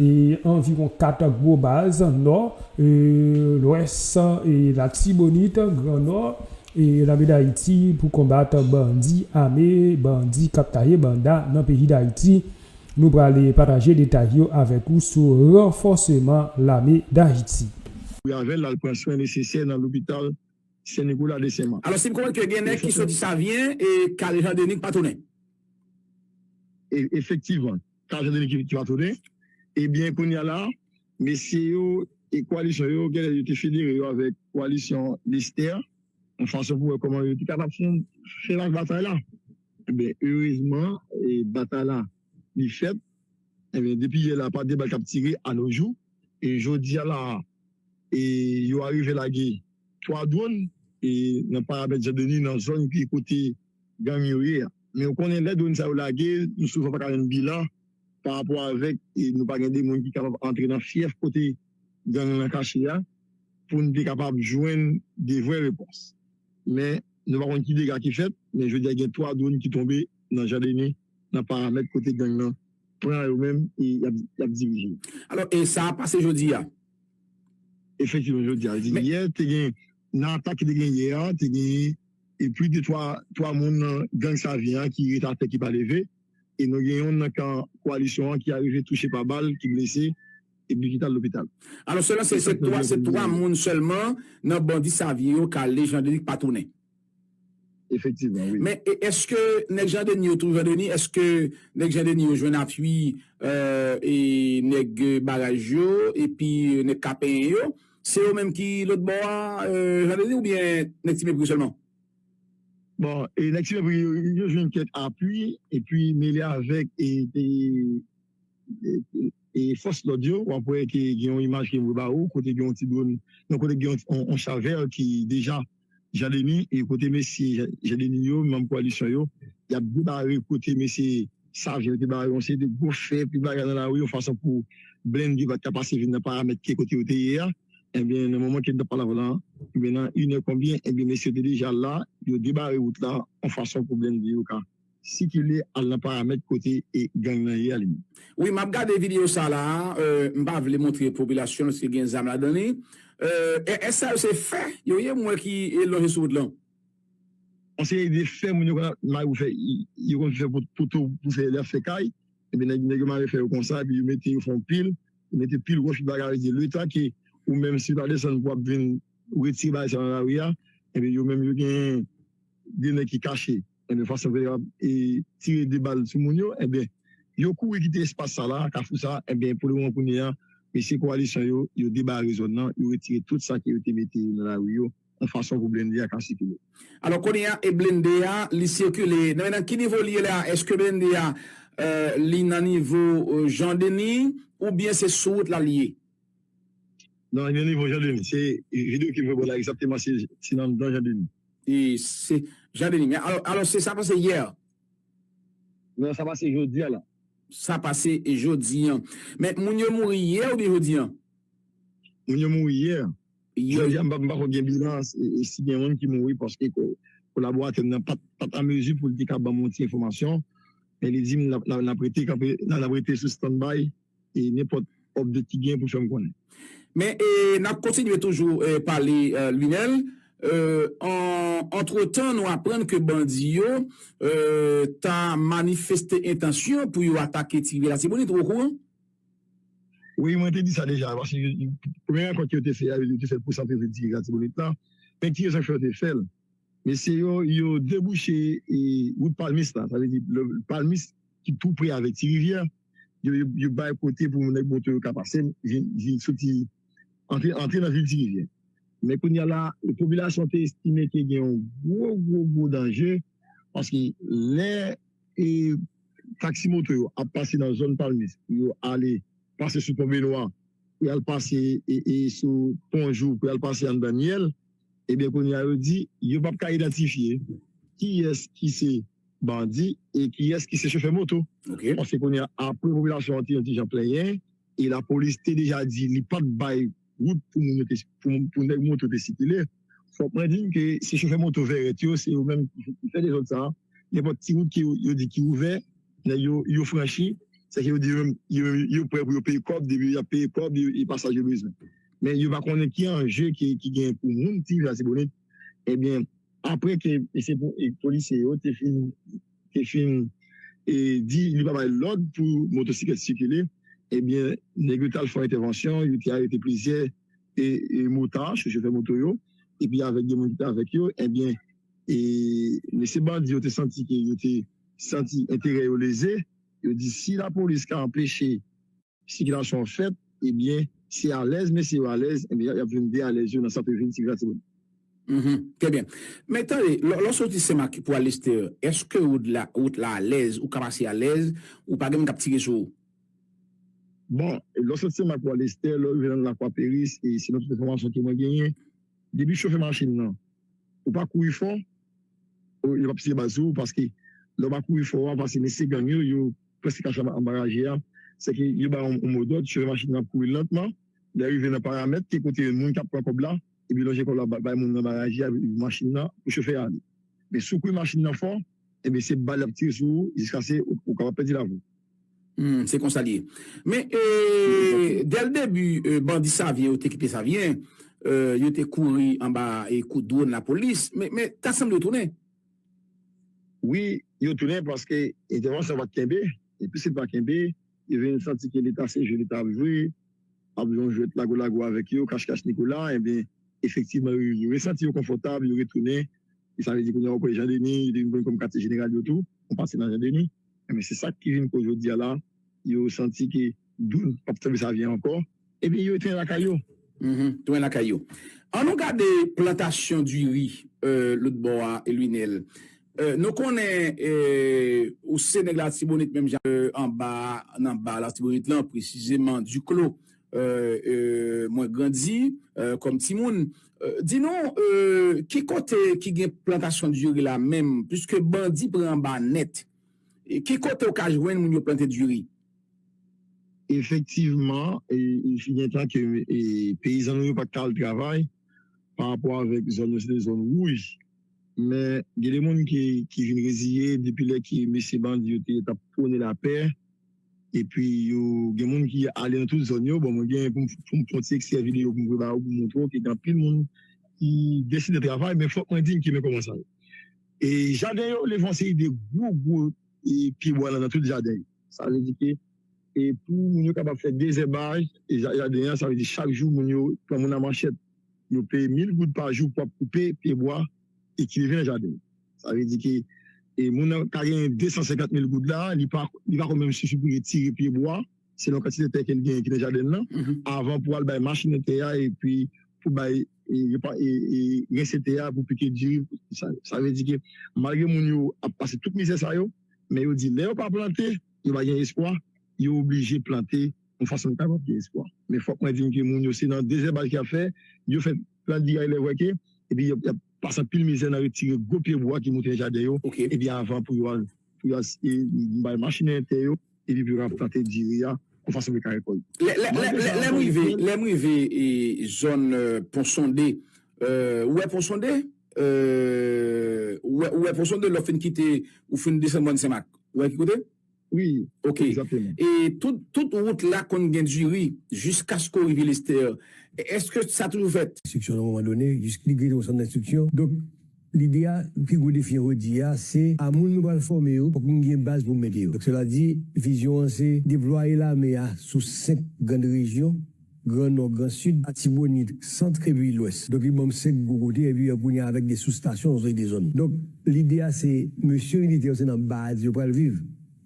e anviwon 4 gwo baz, Nò, Lwès, Latibonit, Gran Nò, e Lame Dayiti pou konbat bandi ame, bandi k ap taye banda nan peyi Dayiti. Nou prale pataje detay yo avèk ou sou ranfòseman Lame Dayiti. Pou y avè l al pran swen nesesè nan lopital Sen Nikola de Sen Mak. Alòs li konprann ke gen nèg ki soti Savyen e k al Jan Denis k pa tounen. Efektivman. Sa se depi ki va tounen. Ebyen kounya la mesye yo e koalisyon yo genlè yo te federe yo avèk koalisyon Lestè yon fason pou wè kòman yo te kapab fè laj batay la. Ebyen erezman batay la li fèt. Ebyen depi yè la pa de bal k ap tire a no jou. E jodia la a e yo arive lage 3 dwòn e nan paramèt Jan Deni nan zòn ki kote gang yo ye a. Men ou konnen lè dwonn sa yo lage, nou souvan pa ka jwenn bilan pa rapò avèk nou pa gen de moun ki kapab antre nan fyèf kote gang lan kache a pou nou te kapab jwenn de vrè repons. Men nou pa konn ki dega ki fèt, men jodi a gen 3 dwonn ki tonbe nan Jadene nan paramèt kote gang lan pran yo menm e y ap dirije. Alò e sa pase jodi a? Efektivman jodi a. Yè te gen nan atak ki te gen yè a, te gen E plis de 3 3 moun nan gang Savyen an ki ret atè ki pa leve e nou gen yonn nan kan koalisyon an ki arive touche pa bal ki blese epi ki t al lopital. Alò selon se se 3 se 3 moun sèlman nan bandi Savyen yo ka ale Jan Denis k pa tounen. Efektivman wi. Men èske nèg Jan Denis yo tou Jan Denis èske nèg Jan Denis yo jwenn apui nèg baraj yo epi nèg Kapenyen yo? se yo menm ki lòt bò a Jean Denis ou byen nèg ti mepri sèlman? Bon e nèg ti mepri yo jwenn kèk apui epi mele avèk e fòs lòd yo wap wè ke gen yon imaj ke mwen ba ou kote gen yon ti dronn non kote gen yon chavèl ki deja Jean Denis e kote mesye Jean Denis yo, manm koalisyon yo, y ap debare kote mesye Sav Jean yo te bare yon seri de gwo fè epi bagay nan lari yon fason pou blennde pa t ka pase vin nan paramèt ke kote yo te ye a. Ebyen nan moman ke n t ap pale avè w la, ebyen nan inè konbyen, ebyen mesye yo te deja la, yo debare wout la yon fason pou blennde yo ka. Sikile al nan paramèt kote e gang nan ye a li menm. Wi map gade video sa la m pa vle montre popilasyon paske gen zam ladan li es sa yo se fè yo ye m wè ki lonje sou wout lan. On seri de fè moun yo konn mare pou fè yo konn fè poto pou fè yap fè kay epi nèg yo mare fè yo konsa epi yo mete yo fè yon pil yo mete pil wòch bagay yo di letan ke ou menm si pa desann pou wap vin retire bagay sa nan lari a epi yo menm yo gen de nèg ki kache Ebyen fason ke yo ap tire de bal sou moun yo ebyen yo kouri kite espas sa la, kafou sa, ebyen pou le moman kounye a mesye kowalisyon yo, yo debare zòn nan, yo retire tout sa ke yo te mete nan lari yo yon fason pou blende a ka sikile. Alò kounye a e blende a li sikile nan nan ki nivo li ye la, eske blende a li nan nivo Jean Denis oubyen se sou wout la li ye? Non li nan nivo Jean Denis, se video ke m fè w la egzakteman se nan nan Jean Denis. E se Jean Denis men. Alò se sa pase yè an? Non, sa pase jodi an lan. Sa pase jodi an. Men moun yo mouri yè oubyen jodi an? Moun yo mouri yè. Jodi an m pa ko gen bilan e si gen moun ki mouri paske kolaboratè m nan pa t an mezi pou l te ka ban m yon ti enfòmasyon. Men li di m n ap rete kanpe, n ap rete sou standby. e nenpòt update ki genyen pou fè m konnen. Men nap kontinye toujou pale Lunel, antretan nou aprann ke bandi yo ta manifeste entansyon pou yo atake ti rivyè latibonit, ou okouran? Wi mwen te di sa deja, paske premye rankont ke yo te fè a, yo te fèl pou santre vil ti rivyè latibonit lan, men ki rezon ki fè yo te fèl? Mesye yo, yo debouche wout palmis la, sa vle di palmis ki tou pre avèk ti rivyè. yo bay kote pou nèg moto yo ka pase vin soti antre nan vil Tirivye men kounya la popilasyon te estime ke gen yon gwo gwo gwo danje paske lè taksi moto yo ap pase nan zòn palmis pou yo ale pase sou pon Benwa pou yal pase sou pon jou pou yal pase anndan Niyèl ebyen kounya yo di yo pap ka idantifye kiyès ki se. bandi e kiyès ki se chofè moto. Paske kounye a, apre popilasyon an te yon ti jan plenyen e lapolis te deja di li pa t bay wout pou moun yo te, pou nèg moto te sikile, fòk mwen di n ke se chofè moto vèrèt yo, se yo menm ki fè dezòd sa a. Nenpòt ti wout ke yo di ki ouvè, nèg yo, yo franchi. Sèke yo di yo menm, yo menm, yo prè pou yo peye kòb, depi y ap peye kòb, e pasaj yo bezwen. Men yo pa konnen ki anje ki genyen pou moun ti jan Latibonit. Ebyen. Apre ke polisye yo te fin te fin di li pa bay lòd pou motosiklèt sikile, ebyen nèg yo t al fè yon entèvansyon, yo te arete plizyè motard sou chofè moto yo, epi avèk 2 moun ki te avèk yo, ebyen mesye bandi yo te santi ke yo te santi enterè yo leze, yo di si lapolis ka anpeche sikilasyon fèt ebyen si alèz mesye yo alèz ebyen yap vin dealèz yo nan sante vil ti gratimoun. Mph trè byen. Men tande, lè w soti Senmak pou al Lestè, èske wout la wout la alèz, ou ka pase alèz, ou pa gen moun k ap tire sou ou? Bon, lè w soti Senmak pou al Lestè, lè w rive nan Lakwa Peris, e selon tout enfòmasyon ke mwen genyen, depi chofè machin nan, ou pa kouri fò, yo p ap tire bal sou ou paske lè w pa kouri fò, w ap pase mesye gang yo, yo Prensipal sa anba raje a, se ke yo ba ou yon modòd, chofè machin nan ap kouri lantman, lè rive nan paramèt ki kote moun kap pran kòb la, epi lonje kòb la bay moun anba raje a machin nan pou chofè a ale. Men si w kouri machin nan fò, enben se bal yap tire sou ou jiskase ou kapab pèdi lavi w. Humm se konsa li ye. Men dè l debi bandi Savyen yo te kite Savyen, yo te kouri anba kout dron lapolis, men ta sanble yo tounen. Wi, yo tounen paske entèvansyon an pa t kenbe, e piske l pa kenbe, yo vin santi ke leta se jwe leta ap jwe, ap jwe yon jwèt lago lago avèk yo, kach kach Nikola, enben, efektivman yo yo resanti yo konfòtab, yo retounen, e sa vle di kounye a ou kwè Jan Deni, yo te vin konn kòm katye jeneral yo tou, konn pase nan Jan Deni, enben se sa k ki vin koz jodi a la. yo santi ke doud pap tanbe sa vyen ankò ebyen yo etwen lakay yo. Etwen lakay yo. An nou gade plantasyon diri lôt bò a Lunel. Nou konnen ou se nèg latibonit menm jan anba a nan ba latibonit lan presizeman Duclos mwen grandi kòm timoun. Di nou ki kote ki gen plantasyon diri la menm puiske bandi pran anba nèt. Ki kote ou ka jwenn moun yo plante diri? Efektivman, li gen tan ke peyizan nou yo pa t ka al travay pa rapò avèk zòn yo se te zòn wouj. Men, gen de moun ki vin reziye depi lè ke mesye bandi yo te t ap pwone lapè. Epi, gen moun ki ale nan tout zòn yo. Bon, mwen gen pou m fè yon ti ekstrè videyo pou m voye ba ou pou m montre w ke gen anpil moun ki deside travay. Men, fòk mwen di m ki men kòman sa ye. Jaden yo leve yon seri de gwo gwo pyebwa nan tout jaden yo. Sa vle di ke pou moun yo kapab fè dezèbaj jaden an, sa vle di chak jou moun yo pran moun a manchèt, yo peye mil goud pa jou pou ap koupe pyebwa e ki leve nan jaden yo. Sa vle di ke moun nan ka genyen 250 mil goud la, li pa konn menm sifi pou retire pyebwa. selon kantite tè ke li genyen ki nan jaden li lan, avan pou al bay machine tè a epi pou bay rense tè a pou pike diri sa vle di ke malgre moun yo ap pase tout mizè sa yo men yo di lè yo pa plante yo pa gen espwa yo oblije plante yon fason pou kapab gen espwa men fòk mwen di ke moun yo se nan dezèbaj ki ap fè yo fè plant diri a ilè vwè ke epi yo ap Plas anpil mizè nan retire gwo pye bwa ki moute nan jaden yo epi avan pou yo al bay machinen tè yo epi pou yo ka plante diri a yon fason pou yo ka rekòlte. Lè m rive zòn pon sonde ou wè pon sonde ou wè pon sonde lè w fin kite ou fin desann mòn senmak ou wè ki kote? Wi, egzakteman. Ok. E tout wout la konn gen diri jiskaske w rive Lestèr. Eske sa toujou fèt? Enstriksyon nan moman done, jiske li kreye yon sann enstriksyon. Donk, lide a, pi gwo defi an jodi a, se a moun nou pral fòme yo, fòk nou gen baz pou mete yo. Donk, sela di, vizyon an se deplwaye lame a sou 5 grann rejyon. Gran Nò, Gran Sid, Atibonit, Centre epi Lwès. Donk li ban m 5 gwo kote epi kounye a avèk 2 sous stasyon yon seri de zòn. Donk lide a se mesye militè yo se nan baz yo pral viv.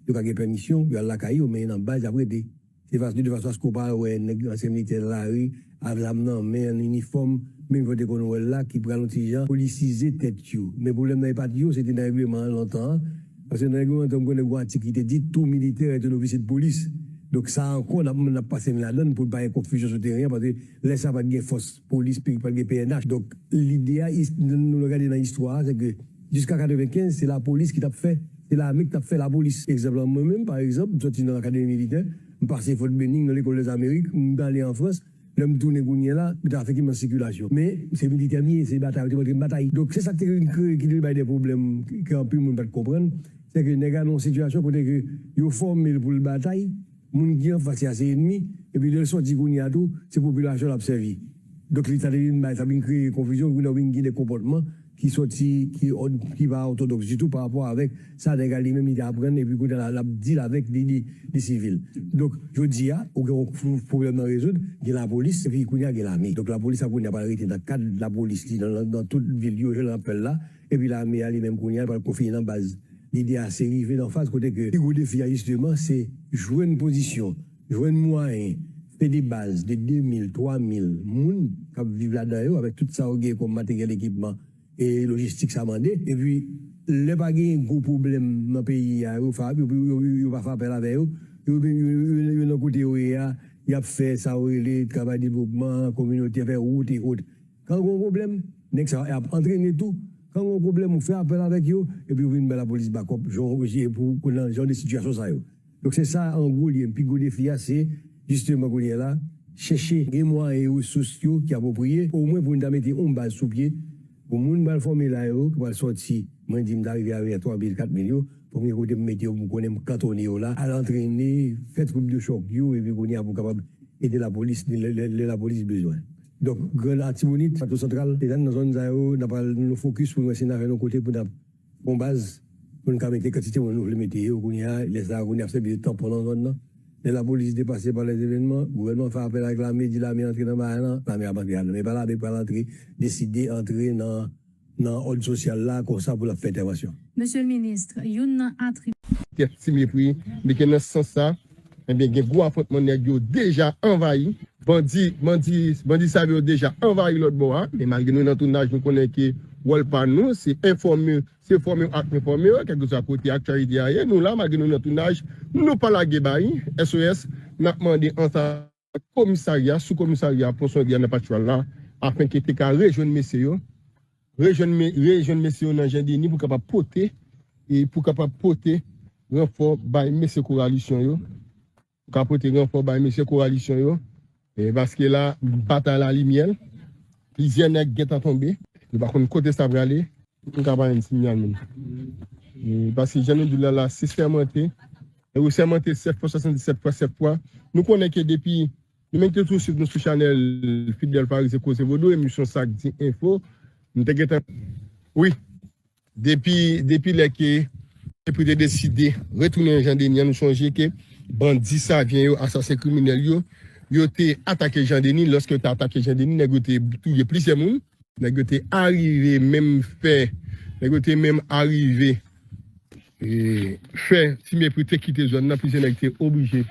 Yo ka gen pèmisyon pou y al lakay yo men nan baz y ap rete. Se fason de fason aske w pa al wè nèg ansyen militè nan lari avk zam nan men an inifòm menm jan w te konn wè l la ki pral yon ti jan polisize tèt yo. Men pwoblèm nan e pa t yo se te nan règleman an lontan an. Paske nan regleman entèn m konnen gon atik ki te di tou militè ret yon ofisye de polis. Donk sa ankò nap mwen nap pase n ladann poun pa gen konfizyon sou teren an paske lè sa pat gen fòs polis peyi pat gen pnh. Donk lide a is nan nou gade nan istwa a se ke jiska 95 se lapolis ki tap fè se lame ki tap fè lapolis. Egzanp lan mwen menm pa egzanp m sòti nan akademi militè m pase Fort Benning nan lekòl dèzamerik m t ale an frans. Lè m tounen kounye la, m te afekte m nan sikilasyon. Men, m se militè m ye, se batay yo te montre m batay. Donk, se sa k te vin kreye, ki te vin bay de pwoblèm ke anpil moun pa t konprann, se ke nèg a nan yon sitiyasyon kote ke yo fòme l pou l batay, moun ki anfas li a se enmi, epi lè l sòti kounye a tou, se popilasyon l ap sèvi. Donk, li sa te vin bay, sa vin kreye konfizyon, kounye a ou vin gen de konpòtman, ki sòti, ki od, ki pa òtodòks ditou pa rapò avèk sa nèg la li menm li te aprann epi kounye la l ap deal avèk li, li sivil. Donk jodi a ou gen yon pwoblèm nan rezoud, gen lapolis epi kounye a gen lame. Donk lapolis la kounye a pral rete nan kad lapolis li nan tout vil li yo jan l ap fè l la, epi lame a li menm kounye a l pral konfine nan baz. Lide a se rive nan faz kote ke pi gwo defi a jisteman se jwenn pozisyon. Jwenn mwayen fè de baz de 2 mil, 3 mil moun k ap viv ladan yo avèk tout sa yo gen kòm materyèl, ekipman e lojistik sa mande. Epi lè pa genyen gwo pwoblèm nan peyi a yo fa yo pa fè apèl avè yo, yo yo nan kote yo ye a y ap fè sa yo rele travay devlopman kominotè, fè wout e ot. Kan gen yon pwoblèm nèg sa yo y ap antrene tou, kan gen yon pwoblèm ou fè apèl avèk yo epi yo vin bay lapolis bakòp jan w jan de sitiyasyon sa yo. Donk se sa an gwo li ye. Pi gwo defi a se jisteman kounye a la chèche gen mwayen e resous yo ki apwopriye omwen pou n ta mete yon baz sou pye pou moun pral fòme la yo ki pral sòti. Mwen di m ta rive avè 3 mil, 4 mil yo pou m gen kote m mete yo pou m konnen m kantone yo la al antrene, fè twoup de chòk yo epi kounye a pou kapab ede lapolis lè lapolis bezwen. Donk Grand Artibonite, Plato Santral, e nan zòn sa yo n ap pral nou fokis pou n wè si n ta jwenn yon kote pou n ta Bon baz, pou n ka mete kantite moun nou vle mete yo kounye a, lè sa a kounye a ap sèvi de tanpon nan zòn nan. Lè lapolis depase pa lèzevènman, gouvènman an fè apèl ak lame, di lame antre nan bagay lan, lame ap antre ladan. Men pa lame k pral antre, deside antre nan òd sosyal la konsa pou l ap fè entèvansyon. Monsieur le ministre, youn nan atribit. Kèk ti mepri li gen nan sans sa Ebyen gen gwo afwontman nèg yo deja anvayi. Bandi bandi bandi sal yo deja anvayi lòt bò a men malgre nou nan tounaj nou konnen ke wòl pa nou se enfòme se fòme ak enfòme kèlkeswa kote aktyalite a ye nou la malgre nou nan tounaj nou pa lage bayi SOS nap mande ansa. Ak komisarya, sou komisarya Ponson Egea nan Patchwal la, afen ke te ka rejwenn mesye yo, rejwenn me, rejwenn mesye yo nan Jen Deni pou kapab pote, e pou kapab pote ranfò bay mesye Koralisyon yo, pou ka pote ranfò bay mesye Koralisyon yo, e paske la, batay la li myèl, plizyè nèg gentan tonbe, yo pa konn kote sa prale. Nou ka pa jwenn sinyal menm. E paske jan nou di l la, la se sèmante. E ou sèmante sèf fwa swasandi sèt fwa sèf fwa Nou konnen ke depi Nou mete tou swiv nou sou chanèl Fidel Farize koze vodou emisyon sa k di enfo M te gentan Wi Depi depi lè ke Epri te deside retounen Jan Denis an nou sonje ke bandi savyen yo asasen kriminèl yo Yo te atake Jan Denis lòske yo te atake Jan Denis nèg yo te touye plizyè moun nèg yo te arive menm fè nèg yo te menm arive. fè ti mepri te kite zòn nan plizyè nèg te oblije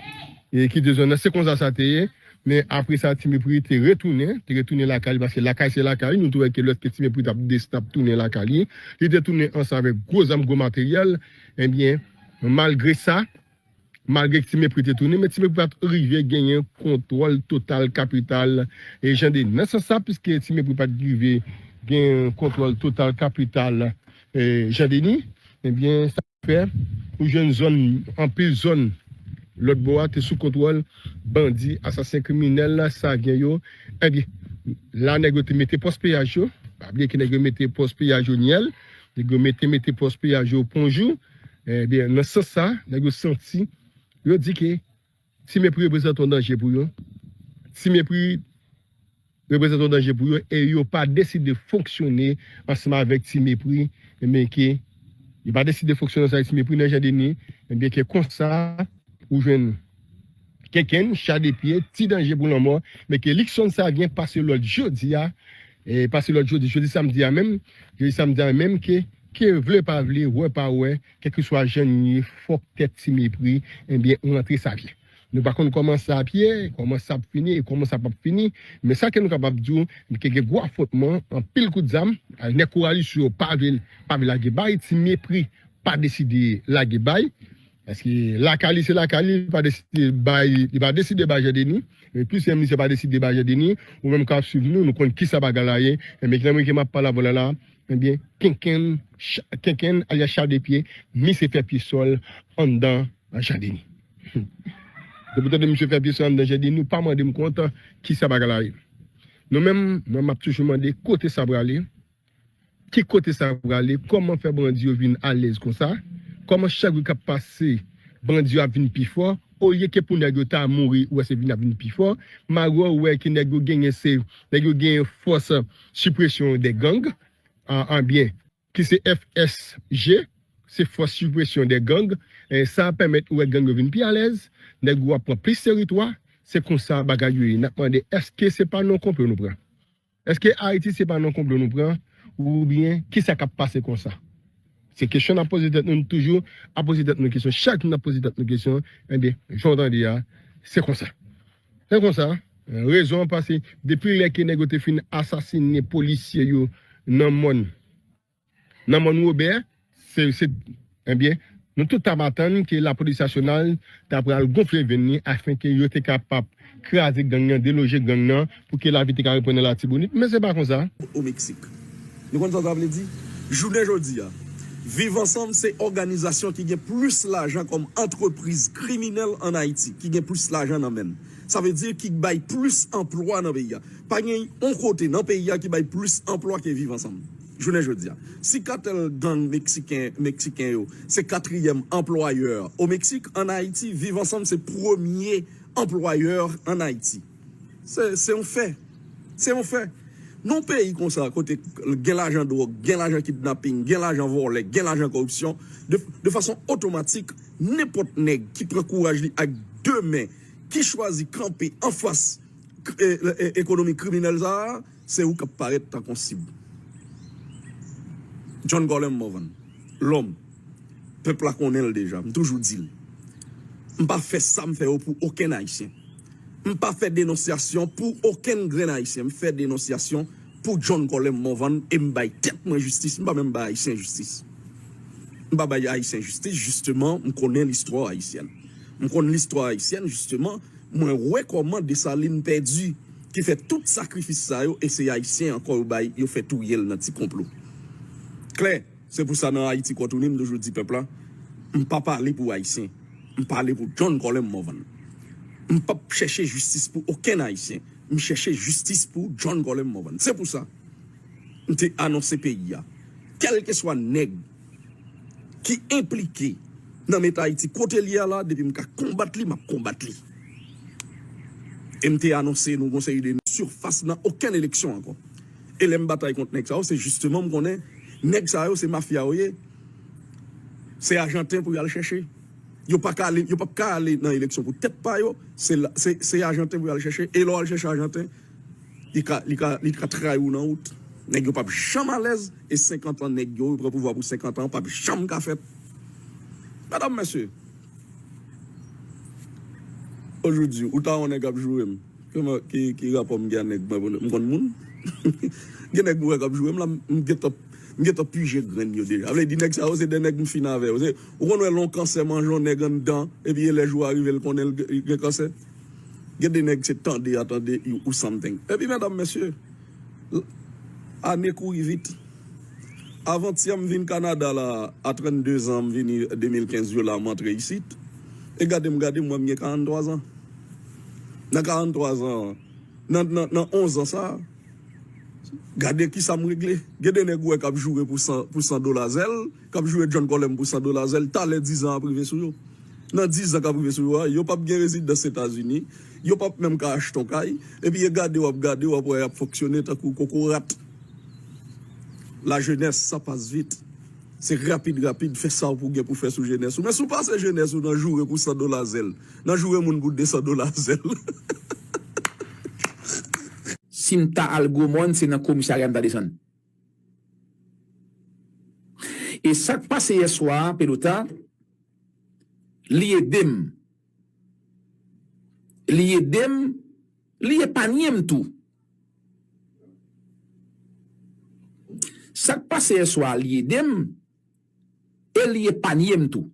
kite zòn nan se konsa sa te ye men apre sa ti mepri te retounen te retounen lakay li paske lakay se lakay nou te wè ke lè ti mepri t ap desann ap tounen lakay li li te tounen ansanm avèk gwo zam gwo materyèl ebyen malgre sa Malgre Ti Mepri te tounen, men Ti Mepri pa t rive genyen kontwòl total kapital Jan 2. Nan sans sa, piske Ti Mepri pa t rive genyen kontwòl total kapital Jan 2, ebyen sa te fè ou jwenn zòn, anpil zòn lòt bò a te sou kontwòl bandi, asasen, kriminèl, savyen yo. Ebyen, la nèg yo te mete pòs peyaj yo. Pa bliye ke nèg yo mete pòs peyaj yo Nyèl, Nèg yo mete mete pòs piyaj yo pon jou, ebyen nan sans sa nèg yo santi yo di ke Ti Mepri reprezante yon danje pou yo, Ti Mepri reprezante yon danje pou yo e yo pa deside fonksyone ansanm avèk Ti Mepri ebyen ke yo pa deside fonksyone ansanm avèk Ti Mepri nan Jan Deni ebyen ke konsa ou jwenn kenkenn, cha de pye, ti danje pou lanmò, men ke Luckson Savien pase lòd jodi a, pase lòd jodi, jodi samdi a menm, jodi samdi a menm ke, ke vle pa vle, wè pa wè, kèlkeswa jan nou ye, fòk tèt ti mepri, enbyen ou rantre Savien. Nou pa konn kòman sa ap ye, kòman sa ap fini e kòman sa pap fini, men sa ke nou kapab di w, ke gen gwo afwontman, anpil kout zam, nèg Koralis yo pa vle, pa vle lage bay, ti mepri pa deside lage bay. Paske lakay li se lakay li, li pa deside bay, li pa deside bay Jandeni, e plis menm misye pa deside bay Jandeni, ou menm kap swiv nou, nou konn kisa bagay la ye, enben nan moman ke map pale avèw la la, enben kenkenn, kenkenn alyas chal de pye, misye fè pye sòl anndan Jandeni. Hum! Depiw tande misye fè pye sòl anndan Jandeni, ou pa mandem kont kisa bagay la ye. Nou menm, mwen map toujou mande kote sa prale, Ki kote sa prale, kòman fè bandi yo vin alèz konsa, kòman chak jou kap pase bandi yo ap vin pi fò, olye ke pou nèg yo ta mouri ou wè se vin ap vin pi fò, malgre ou wè ke nèg yo genyen se, nèg yo genyen fòs sipresyon dè gang, anbyen, ki se FSG, se fòs sipresyon dè gang, sa pèmèt ou wè gang yo vin pi alèz, nèg yo ap pran plis teritwa, se konsa bagay yo ye, nap mande èske se pa nan konplo nou pran? Eske Ayiti se pa nan konplo nou pran oubyen kisa kap pase konsa? Se kesyon nap poze tèt nou, nou toujou ap poze tèt nou kesyon, chak jou nap poze tèt nou kesyon, enben jan w tande a se konsa. Se konsa, rezon an pase depi lè ke nèg yo te fin asasine polisye yo nan mòn. Nan Mòn Wobè, se, se, enbyen, nou tout t ap atann ke Lapolis Nasyonal ta pral gonfle venn li afenke yo te kapab kraze gang nan, deloje gang nan, pou ke lavi te ka reprann nan Latibonit. Men se pa konsa. O Meksik. Nou konn sa sa vle di? Jounen jodi a, Viv Ansanm se òganizasyon ki gen plis lajan kòm antrepriz kriminèl ann Ayiti, ki gen plis lajan nan men l. Sa vle di ki bay plis anplwa nan peyi a. Pa gen yon kote nan peyi a ki bay plis anplwa ke Viv Ansanm. Jounen jodi a, si katèl gang meksiken meksiken yo se katriyèm anplwayè o Meksik, ann Ayiti Viv Ansanm se premye anplwayè ann Ayiti. Se se yon fè. Se yon fè. Nan yon peyi konsa kote gen lajan dwòg, gen lajan kidnaping, gen lajan vòlè, gen lajan koripsyon, de de fason otomatik nenpòt nèg ki pran kouraj li ak de men, ki chwazi kanpe anfas k e ekonomi kriminèl sa a, Se ou k ap parèt tank on sib. John Garland Morvan, Lòm, pèp la konnen l deja. M toujou di l, m pa fè sa m fè yo pou okenn Ayisyen. M pa fè denonsyasyon pou okenn grenn Ayisyen. M fè denonsyasyon pou John Garland Morvan e m bay tèt mwen jistis. M pa menm bay Ayisyen jistis. M pa bay Ayisyen jistis jisteman m konnen listwa ayisyèn. M konn listwa ayisyèn jisteman. Mwen wè koman Dessalines pèdi ki fè tout sakrifis sa yo e se Ayisyen ankò yo bay yo fè touye l nan ti konplo. Klè, se pou sa nan Ayiti Kò Tounen m toujou di pèp la, m pa pale pou Ayisyen, m pale pou John Colem Morvan. M pap chèche jistis pou okenn Ayisyen, m chèche jistis pou John Colem Morvan. Se pou sa m te anonse peyi a, kèlkeswa nèg. ki enplike nan met Ayiti kote l ye a la, depi m ka konbat li, m ap konbat li. E m te anonse nou gon seri de. Surface nan okenn eleksyon ankò. E lè m batay kont nèg sa yo, se jisteman m konnen nèg sa yo se mafya yo ye, se ajanten pou y al chèche. Yo pa ka ale, yo pap ka ale nan eleksyon pou tèt pa yo, se ajanten pou y al chèche. E lè w al chèche ajanten. Li ka li ka li ka trayi w nan wout. Nèg yo pap janm alèz e 50 an nèg yo pran pouvwa pou 50 an pap janm ka fèt. Medam mesye o jou di ou ta yon nèg ap joure m kòman ki ki rapò m gen a nèg mwen pou m konn moun gen nèg mwen wè kap joure m la m gentan m gentan pije grenn yo deja vle di nèg sa yo se 2 nèg m fin avè yo se ou konn wè lè yon kansè manje yon nèg anndan epi e lè jou a rive l konnen l gen kansè. Gen de nèg se tande a tande you ou something. Epi medam mesye, l, ane kouri vit. Avantyè m vin Kanada la a 32 zan m vini 2015 yo la m antre isit. E gade m gade m wè m gen 43 zan. Nan 43 zan, nan, nan, nan 11 zan sa, gade kisa m regle. Gen de nèg ou wè k ap joure pou 100, pou 100 dola zèl. kap joure John Colem pou 100 dola zèl talè 10 zan ap rive sou yo nan 10 zan kap rive sou yo a yo pap gen rezidans etazini yo pap menm ka achte yon kay epi e gade wap gade wap wè yap fonksyone tankou kokorat la jenès sa pas vit se rapid rapid fè sa ou pou gen pou fè sou jenès ou men si w pase jenès ou nan joure pou 100 dola zèl nan joure moun pou 200 dola zèl hahahaha. Sim ta al gwo mòn se nan komisarya m ta desann. E sak pase yè swa a pelota li edem li edem li epanyem tou sak pase yè swa a li edem e li epanyem tou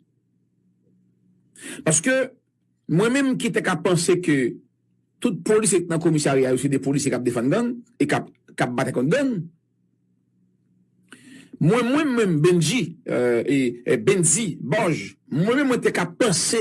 paske Mwen menm ki te ka panse ke tout polisye ki t nan komisarya yo se de polisye k ap defann gang e k ap batay kont gang, mwen mwen menm Bendji, Bendy, Bòj, mwen menm mwen te ka panse.